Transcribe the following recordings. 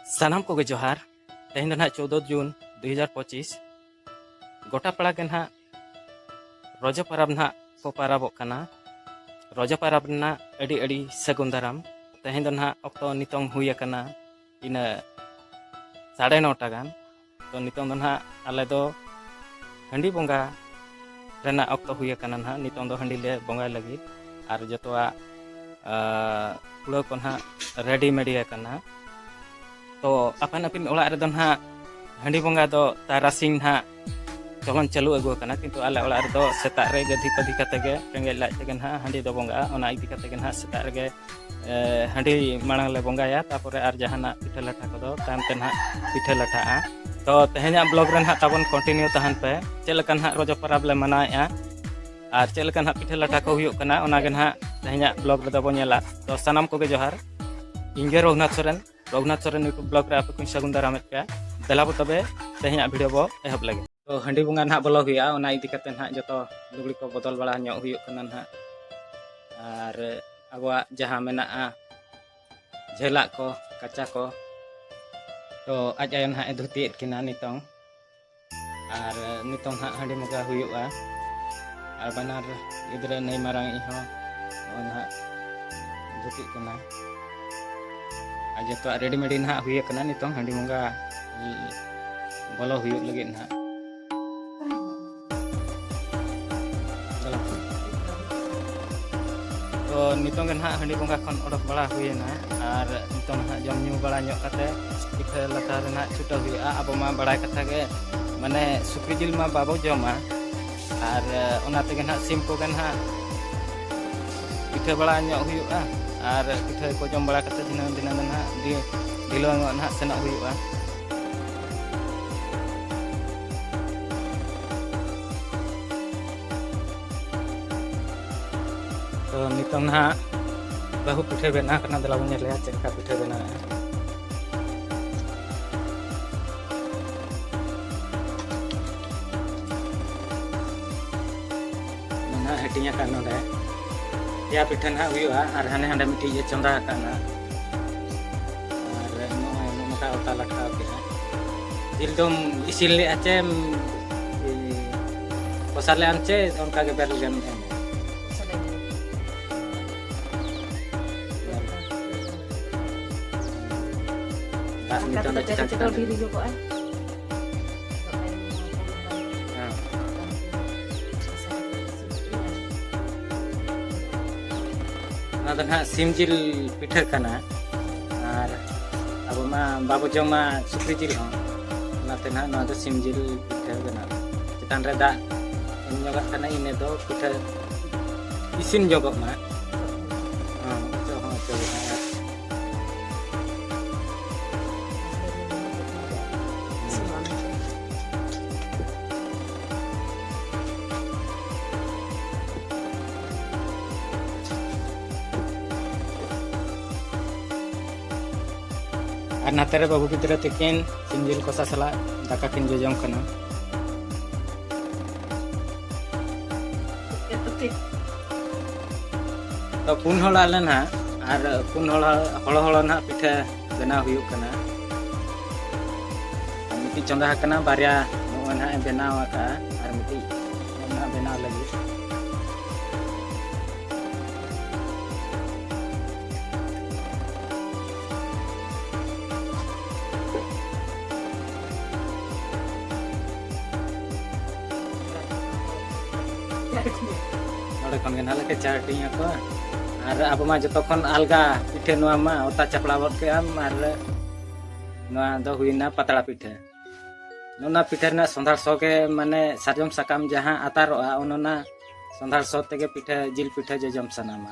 ᱥᱟᱱᱟᱢ ᱠᱚᱜᱮ ᱡᱚᱦᱟᱨ ᱛᱮᱦᱮᱧ ᱫᱚ ᱱᱟᱦᱟᱜ ᱪᱳᱫᱫᱳ ᱡᱩᱱ ᱫᱩ ᱦᱟᱡᱟᱨ ᱯᱚᱸᱪᱤᱥ ᱜᱚᱴᱟ ᱯᱟᱲᱟ ᱜᱮ ᱱᱟᱦᱟᱜ ᱨᱚᱡᱚ ᱯᱟᱨᱟᱵᱽ ᱱᱟᱦᱟᱜ ᱠᱚ ᱯᱟᱨᱟᱵᱚᱜ ᱠᱟᱱᱟ ᱨᱚᱡᱚ ᱯᱟᱨᱟᱵᱽ ᱨᱮᱱᱟᱜ ᱟᱹᱰᱤ ᱟᱹᱰᱤ ᱥᱟᱹᱜᱩᱱ ᱫᱟᱨᱟᱢ ᱛᱮᱦᱮᱧ ᱫᱚ ᱱᱟᱦᱟᱜ ᱚᱠᱛᱚ ᱱᱤᱛᱚᱝ ᱦᱩᱭ ᱟᱠᱟᱱᱟ ᱤᱱᱟᱹ ᱥᱟᱲᱮ ᱱᱚᱴᱟ ᱜᱟᱱ ᱛᱚ ᱱᱤᱛᱚᱝ ᱫᱚ ᱱᱟᱦᱟᱜ ᱟᱞᱮ ᱫᱚ ᱦᱟᱺᱰᱤ ᱵᱚᱸᱜᱟ ᱨᱮᱱᱟᱜ ᱚᱠᱛᱚ ᱦᱩᱭ ᱟᱠᱟᱱᱟ ᱱᱟᱦᱟᱜ ᱱᱤᱛᱚᱝ ᱫᱚ ᱦᱟᱺᱰᱤ ᱞᱮ ᱵᱚᱸᱜᱟᱭ ᱞᱟᱹᱜᱤᱫ ᱟᱨ ᱡᱚᱛᱚᱣᱟᱜ ᱠᱩᱲᱟᱹ ᱠᱚ ᱱᱟᱦᱟᱜ ᱨᱮᱰᱤ ᱢᱮᱰᱤ ᱟᱠᱟᱱᱟ ᱛᱚ ᱟᱯᱟᱱ ᱟᱹᱯᱤᱱ ᱚᱲᱟᱜ ᱨᱮᱫᱚ ᱱᱟᱦᱟᱜ ᱦᱟᱺᱰᱤ ᱵᱚᱸᱜᱟ ᱫᱚ ᱛᱟᱨᱟᱥᱤᱧ ᱱᱟᱦᱟᱜ ᱪᱚᱞᱚᱱ ᱪᱟᱹᱞᱩ ᱟᱹᱜᱩ ᱟᱠᱟᱱᱟ ᱠᱤᱱᱛᱩ ᱟᱞᱮ ᱚᱲᱟᱜ ᱨᱮᱫᱚ ᱥᱮᱛᱟᱜ ᱨᱮ ᱜᱟᱹᱫᱷᱤ ᱯᱟᱹᱫᱷᱤ ᱠᱟᱛᱮ ᱜᱮ ᱨᱮᱸᱜᱮᱡ ᱞᱟᱡ ᱛᱮᱜᱮ ᱱᱟᱦᱟᱜ ᱦᱟᱺᱰᱤ ᱫᱚ ᱵᱚᱸᱜᱟᱜᱼᱟ ᱚᱱᱟ ᱤᱫᱤ ᱠᱟᱛᱮ ᱜᱮ ᱱᱟᱦᱟᱜ ᱥᱮᱛᱟᱜ ᱨᱮᱜᱮ ᱦᱟᱺᱰᱤ ᱢᱟᱲᱟᱝ ᱞᱮ ᱵᱚᱸᱜᱟᱭᱟ ᱛᱟᱯᱚᱨᱮ ᱟᱨ ᱡᱟᱦᱟᱱᱟᱜ ᱯᱤᱴᱷᱟᱹ ᱞᱟᱴᱷᱟ ᱠᱚᱫᱚ ᱛᱟᱭᱚᱢ ᱛᱮ ᱱᱟᱦᱟᱜ ᱯᱤᱴᱷᱟᱹ ᱞᱟᱴᱷᱟᱜᱼᱟ ᱛᱚ ᱛᱮᱦᱮᱧᱟᱜ ᱵᱞᱚᱜ ᱨᱮ ᱱᱟᱦᱟᱜ ᱛᱟᱵᱚᱱ ᱠᱚᱱᱴᱤᱱᱤᱭᱩ ᱛᱟᱦᱮᱱ ᱯᱮ ᱪᱮᱫ ᱞᱮᱠᱟ ᱱᱟᱦᱟᱜ ᱨᱚᱡᱚ ᱯᱚᱨᱚᱵᱽ ᱞᱮ ᱢᱟᱱᱟᱣᱮᱫᱼᱟ ᱟᱨ ᱪᱮᱫ ᱞᱮᱠᱟ ᱱᱟᱦᱟᱜ ᱯᱤᱴᱷᱟᱹ ᱞᱟᱴᱷᱟ ᱠᱚ ᱦᱩᱭᱩᱜ ᱠᱟᱱᱟ ᱚᱱᱟᱜᱮ ᱱᱟᱦᱟᱜ ᱛᱮᱦᱮᱧᱟᱜ ᱵᱞᱚᱜ ᱨᱮᱫᱚ ᱵᱚᱱ ᱧᱮᱞᱟ ᱛᱚ ᱥᱟᱱᱟᱢ ᱠᱚᱜᱮ ᱡᱚᱦᱟᱨ ᱤᱧᱜᱮ ᱨᱚᱜᱷᱩᱱᱟᱛᱷ ᱥᱚᱨᱮᱱ ᱨᱚᱜᱷᱩᱱᱟᱛᱷ ᱥᱚᱨᱮᱱ ᱭᱩᱴᱩᱵᱽ ᱵᱞᱚᱜ ᱨᱮ ᱟᱯᱮ ᱠᱚᱧ ᱥᱟᱹᱜᱩᱱ ᱫᱟᱨᱟᱢᱮᱫ ᱯᱮᱭᱟ ᱫᱮᱞᱟ ᱵᱚ ᱛᱚᱵᱮ ᱛᱮᱦᱮᱧᱟᱜ ᱵᱷᱤᱰᱤᱭᱳ ᱵᱚ ᱮᱦᱚᱵ ᱞᱟᱹᱜᱤᱫ ᱛᱚ ᱦᱟᱺᱰᱤ ᱵᱚᱸᱜᱟ ᱱᱟᱦᱟᱜ ᱵᱚᱞᱚ ᱦᱩᱭᱩᱜᱼᱟ ᱚᱱᱟ ᱤᱫᱤ ᱠᱟᱛᱮ ᱱᱟᱦᱟᱜ ᱡᱚᱛᱚ ᱞᱩᱜᱽᱲᱤ ᱠᱚ ᱵᱚᱫᱚᱞ ᱵᱟᱲᱟ ᱧᱚᱜ ᱦᱩᱭᱩᱜ ᱠᱟᱱᱟ ᱱᱟᱦᱟᱜ ᱟᱨ ᱟᱵᱚᱣᱟᱜ ᱡᱟᱦᱟᱸ ᱢᱮᱱᱟᱜᱼᱟ ᱡᱷᱟᱹᱞᱟᱜ ᱠᱚ ᱠᱟᱪᱟ ᱠᱚ ᱛᱚ ᱟᱡ ᱟᱭᱳ ᱱᱟᱦᱟᱜ ᱮ ᱫᱷᱩᱛᱤᱭᱮᱫ ᱠᱤᱱᱟ ᱱᱤᱛᱚᱝ ᱟᱨ ᱱᱤᱛᱚᱝ ᱱᱟᱦᱟᱜ ᱦᱟᱺᱰᱤ ᱵᱚᱸᱜᱟ ᱦᱩᱭᱩᱜᱼᱟ ᱟᱨ ᱵᱟᱱᱟᱨ ᱜᱤᱫᱽᱨᱟᱹ ᱱᱟᱹᱭ ᱢᱟᱨᱟᱝ ᱤᱡ ᱦᱚᱸ ᱱᱚᱜᱼᱚᱭ ᱱᱟᱦᱟᱜ ᱫᱷᱩᱛᱤᱜ ᱠᱟᱱᱟᱭ ᱟᱨ ᱡᱚᱛᱚᱣᱟᱜ ᱨᱮᱰᱤ ᱢᱮᱰᱤ ᱱᱟᱦᱟᱜ ᱦᱩᱭ ᱟᱠᱟᱱᱟ ᱱᱤᱛᱚᱝ ᱦᱟᱺᱰᱤ ᱵᱚᱸᱜᱟ ᱵᱚᱞᱚ ᱦᱩᱭᱩᱜ ᱞᱟᱹᱜᱤᱫ ᱱᱟᱦᱟᱜ ᱛᱚ ᱱᱤᱛᱚᱝ ᱜᱮ ᱱᱟᱦᱟᱜ ᱦᱟᱺᱰᱤ ᱵᱚᱸᱜᱟ ᱠᱷᱚᱱ ᱚᱰᱚᱠ ᱵᱟᱲᱟ ᱦᱩᱭᱮᱱᱟ ᱟᱨ ᱱᱤᱛᱚᱝ ᱱᱟᱦᱟᱜ ᱡᱚᱢ ᱧᱩ ᱵᱟᱲᱟ ᱧᱚᱜ ᱠᱟᱛᱮ ᱯᱤᱴᱷᱟᱹ ᱞᱟᱴᱷᱟ ᱨᱮᱱᱟᱜ ᱪᱷᱩᱴᱟᱹᱣ ᱦᱩᱭᱩᱜᱼᱟ ᱟᱵᱚ ᱢᱟ ᱵᱟᱲᱟᱭ ᱠᱟᱛᱷᱟ ᱜᱮ ᱢᱟᱱᱮ ᱥᱩᱠᱨᱤ ᱡᱤᱞ ᱢᱟ ᱵᱟᱵᱚ ᱡᱚᱢᱟ ᱟᱨ ᱚᱱᱟ ᱛᱮᱜᱮ ᱱᱟᱦᱟᱜ ᱥᱤᱢ ᱠᱚᱜᱮ ᱱᱟᱦᱟᱜ ᱯᱤᱴᱷᱟᱹ ᱵᱟᱲᱟ ᱧᱚᱜ ᱦᱩᱭᱩᱜᱼᱟ ᱟᱨ ᱯᱤᱴᱷᱟᱹ ᱠᱚ ᱡᱚᱢ ᱵᱟᱲᱟ ᱠᱟᱛᱮ ᱫᱷᱤᱱᱟᱹᱝ ᱫᱷᱤᱱᱟᱹᱝ ᱫᱚ ᱱᱟᱦᱟᱜ ᱰᱷᱤᱞᱟᱹᱣ ᱧᱚᱜ ᱱᱟᱦᱟᱜ ᱥᱮᱱᱚᱜ ᱦᱩᱭᱩᱜᱼᱟ ᱛᱚ ᱱᱤᱛᱚᱝ ᱱᱟᱦᱟᱜ ᱵᱟᱹᱦᱩ ᱯᱤᱴᱷᱟᱹ ᱵᱮᱱᱟᱣ ᱠᱟᱱᱟ ᱫᱮᱞᱟ ᱵᱚᱱ ᱧᱮᱞᱮᱭᱟ ᱪᱮᱫ ᱞᱮᱠᱟ ᱯᱤᱴᱷᱟᱹ ᱵᱮᱱᱟᱣᱮᱜᱼᱟ ᱦᱟᱹᱴᱤᱧ ᱟᱠᱟᱫ ᱱᱚᱰᱮ ᱯᱮᱭᱟ ᱯᱤᱴᱷᱟᱹ ᱱᱟᱦᱟᱜ ᱦᱩᱭᱩᱜᱼᱟ ᱟᱨ ᱦᱟᱱᱮ ᱦᱟᱸᱰᱮ ᱢᱤᱫᱴᱤᱡ ᱮ ᱪᱚᱸᱫᱟ ᱟᱠᱟᱫ ᱱᱟᱦᱟᱜ ᱟᱨ ᱱᱚᱜᱼᱚᱭ ᱱᱚᱝᱠᱟ ᱚᱛᱟ ᱞᱟᱴᱷᱟᱣ ᱠᱮᱫᱼᱟ ᱡᱤᱞ ᱫᱚᱢ ᱤᱥᱤᱱ ᱞᱮᱫᱼᱟ ᱪᱮ ᱠᱚᱥᱟ ᱞᱮᱫᱼᱟᱢ ᱪᱮ ᱚᱱᱠᱟ ᱜᱮ ᱵᱮᱨᱮᱞ ᱜᱮᱢ ᱮᱢ ᱫᱟᱜ ᱱᱤᱛᱚᱝ ᱫᱚ ᱪᱮᱛᱟᱱ ᱪᱮᱛᱟᱱ ᱦᱮᱸ ᱚᱱᱟ ᱫᱚ ᱱᱟᱦᱟᱜ ᱥᱤᱢ ᱡᱤᱞ ᱯᱤᱴᱷᱟᱹ ᱠᱟᱱᱟ ᱟᱨ ᱟᱵᱚ ᱢᱟ ᱵᱟᱵᱚ ᱡᱚᱢᱟ ᱥᱩᱠᱨᱤ ᱡᱤᱞ ᱦᱚᱸ ᱚᱱᱟᱛᱮ ᱱᱟᱦᱟᱜ ᱱᱚᱣᱟ ᱫᱚ ᱥᱤᱢ ᱡᱤᱞ ᱯᱤᱴᱷᱟᱹ ᱠᱟᱱᱟ ᱪᱮᱛᱟᱱ ᱨᱮ ᱫᱟᱜ ᱮᱢ ᱧᱚᱜᱟᱜ ᱠᱟᱱᱟ ᱤᱱᱟᱹ ᱫᱚ ᱯᱤᱴᱷᱟᱹ ᱤᱥᱤᱱ ᱧᱚᱜᱚᱜ ᱢᱟ ᱟᱨ ᱱᱟᱛᱮ ᱨᱮ ᱵᱟᱹᱵᱩ ᱜᱤᱫᱽᱨᱟᱹ ᱛᱤᱠᱤᱱ ᱥᱤᱢ ᱡᱤᱞ ᱠᱚᱥᱟ ᱥᱟᱞᱟᱜ ᱫᱟᱠᱟ ᱠᱤᱱ ᱡᱚᱡᱚᱢ ᱠᱟᱱᱟ ᱛᱚ ᱯᱩᱱ ᱦᱚᱲ ᱟᱞᱮ ᱱᱟᱦᱟᱜ ᱟᱨ ᱯᱩᱱ ᱦᱚᱲ ᱦᱚᱲ ᱦᱚᱲ ᱱᱟᱦᱟᱜ ᱯᱤᱴᱷᱟᱹ ᱵᱮᱱᱟᱣ ᱦᱩᱭᱩᱜ ᱠᱟᱱᱟ ᱢᱤᱫᱴᱤᱡ ᱪᱚᱸᱫᱟ ᱟᱠᱟᱱᱟ ᱵᱟᱨᱭᱟ ᱱᱚᱜᱼᱚᱭ ᱱᱟᱦᱟᱜ ᱮ ᱵᱮᱱᱟᱣ ᱟᱠᱟᱫᱼᱟ ᱟᱨ ᱢᱤᱫᱴᱤᱡ ᱱᱟᱦᱟᱜ ᱵᱮᱱᱟᱣ ᱞᱟᱹᱜᱤᱫ ᱱᱚᱰᱮ ᱠᱷᱚᱱ ᱜᱮ ᱱᱟᱦᱟᱜ ᱞᱮ ᱠᱮᱪᱟ ᱦᱟᱹᱴᱤᱧ ᱟᱠᱚᱣᱟ ᱟᱨ ᱟᱵᱚ ᱢᱟ ᱡᱚᱛᱚ ᱠᱷᱚᱱ ᱟᱞᱜᱟ ᱯᱤᱴᱷᱟᱹ ᱱᱚᱣᱟ ᱢᱟ ᱚᱛᱟ ᱪᱟᱯᱲᱟ ᱜᱚᱫ ᱠᱮᱜ ᱟᱢ ᱟᱨ ᱱᱚᱣᱟ ᱫᱚ ᱦᱩᱭᱱᱟ ᱯᱟᱛᱲᱟ ᱯᱤᱴᱷᱟᱹ ᱚᱱᱟ ᱯᱤᱴᱷᱟᱹ ᱨᱮᱱᱟᱜ ᱥᱚᱸᱫᱷᱟᱲ ᱥᱚ ᱜᱮ ᱢᱟᱱᱮ ᱥᱟᱨᱡᱚᱢ ᱥᱟᱠᱟᱢ ᱡᱟᱦᱟᱸ ᱟᱛᱟᱨᱚᱜᱼᱟ ᱚᱱᱟ ᱥᱚᱸᱫᱷᱟᱲ ᱥᱚ ᱛᱮᱜᱮ ᱯᱤᱴᱷᱟᱹ ᱡᱤᱞ ᱯᱤᱴᱷᱟᱹ ᱡᱚᱡᱚᱢ ᱥᱟᱱᱟᱢᱟ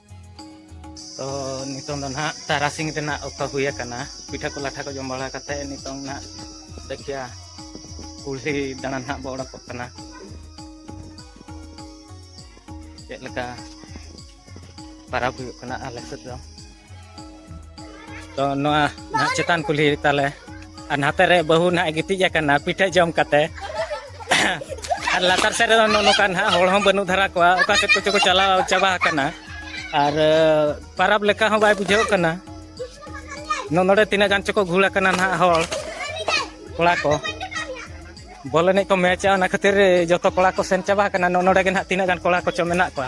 ᱛᱚ ᱱᱤᱛᱚᱝ ᱫᱚ ᱱᱟᱦᱟᱜ ᱛᱟᱨᱟᱥᱤᱝ ᱨᱮᱱᱟᱜ ᱚᱠᱛᱚ ᱦᱩᱭ ᱟᱠᱟᱱᱟ ᱯᱤᱴᱷᱟᱹ ᱠᱚ ᱞᱟᱴᱷᱟ ᱠᱚ ᱡᱚᱢ ᱵᱟᱲᱟ ᱠᱟᱛᱮ ᱱᱤᱛᱚᱝ ᱱᱟᱦᱟᱜ ᱫᱮᱠᱷᱤᱭᱟ ᱠᱩᱞᱦᱤ ᱫᱟᱬᱟ ᱱᱟᱦᱟᱜ ᱵᱚ ᱚᱰᱚᱠᱚᱜ ᱠᱟᱱᱟ ᱪᱮᱫ ᱞᱮᱠᱟ ᱯᱟᱨᱟᱵᱽ ᱦᱩᱭᱩᱜ ᱠᱟᱱᱟ ᱟᱞᱮ ᱥᱮᱫ ᱫᱚ ᱛᱚ ᱱᱚᱣᱟ ᱱᱟᱦᱟᱜ ᱪᱮᱛᱟᱱ ᱠᱩᱞᱦᱤ ᱛᱟᱞᱮ ᱟᱨ ᱱᱟᱛᱮ ᱨᱮ ᱵᱟᱹᱦᱩ ᱱᱟᱦᱟᱜ ᱜᱤᱛᱤᱡ ᱟᱠᱟᱱᱟ ᱯᱤᱴᱷᱟᱹ ᱡᱚᱢ ᱠᱟᱛᱮ ᱟᱨ ᱞᱟᱛᱟᱨ ᱥᱮᱫ ᱨᱮᱫᱚ ᱱᱚᱜᱼᱚ ᱱᱚᱝᱠᱟ ᱱᱟᱦᱟᱜ ᱦᱚᱲ ᱦᱚᱸ ᱵᱟᱹᱱᱩᱜ ᱫᱷᱟᱨᱟ ᱠᱚᱣᱟ ᱚᱠᱟ ᱥᱮᱫ ᱠᱚᱪᱚ ᱠᱚ ᱪᱟᱞᱟᱣ ᱪᱟᱵᱟ ᱟᱠᱟᱱᱟ ᱟᱨ ᱯᱟᱨᱟᱵᱽ ᱞᱮᱠᱟ ᱦᱚᱸ ᱵᱟᱭ ᱵᱩᱡᱷᱟᱹᱣ ᱠᱟᱱᱟ ᱱᱚᱰᱮ ᱛᱤᱱᱟᱹᱜ ᱜᱟᱱ ᱪᱚᱠᱚ ᱜᱷᱩᱲ ᱟᱠᱟᱱᱟ ᱱᱟᱦᱟᱜ ᱦᱚᱲ ᱠᱚᱲᱟ ᱠᱚ ᱵᱚᱞ ᱮᱱᱮᱡ ᱠᱚ ᱢᱮᱪᱟ ᱚᱱᱟ ᱠᱷᱟᱹᱛᱤᱨ ᱡᱚᱛᱚ ᱠᱚᱲᱟ ᱠᱚ ᱥᱮᱱ ᱪᱟᱵᱟ ᱟᱠᱟᱱᱟ ᱱᱚᱰᱮ ᱜᱮ ᱱᱟᱦᱟᱜ ᱛᱤᱱᱟᱹᱜ ᱜᱟᱱ ᱠᱚᱲᱟ ᱠᱚᱪᱚ ᱢᱮᱱᱟᱜ ᱠᱚᱣᱟ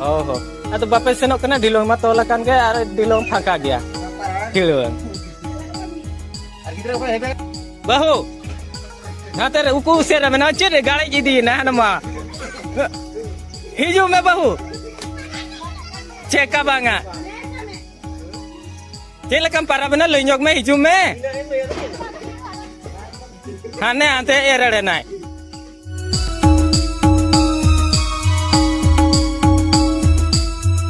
ᱚ ᱦᱚᱸ ᱟᱫᱚ ᱵᱟᱯᱮ ᱥᱮᱱᱚᱜ ᱠᱟᱱᱟ ᱰᱷᱤᱞᱚᱝ ᱢᱟ ᱛᱚᱞ ᱟᱠᱟᱱ ᱜᱮ ᱟᱨ ᱰᱷᱤᱞᱚᱝ ᱯᱷᱟᱸᱠᱟ ᱜᱮᱭᱟ ᱰᱷᱤᱞᱚᱝ ᱵᱟᱹᱦᱩ ᱱᱟᱛᱮ ᱨᱮ ᱩᱠᱩ ᱩᱥᱮᱫ ᱨᱮ ᱢᱮᱱᱟᱜᱼᱟ ᱪᱮᱫ ᱨᱮ ᱜᱟᱲᱮᱡ ᱤᱫᱤᱭᱮᱱᱟ ᱦᱟᱱᱟ ᱢᱟ ᱦᱤᱡᱩᱜ ᱢᱮ ᱵᱟᱹᱦᱩ ᱪᱮᱠᱟ ᱵᱟᱝᱟ ᱪᱮᱫ ᱞᱮᱠᱟᱢ ᱯᱟᱨᱟᱵᱮᱱᱟ ᱞᱟᱹᱭ ᱧᱚᱜ ᱢᱮ ᱦᱤᱡᱩᱜ ᱢᱮ ᱦᱟᱱᱮ ᱦᱟᱱᱛᱮ ᱮᱨ ᱮᱲᱮᱱᱟᱭ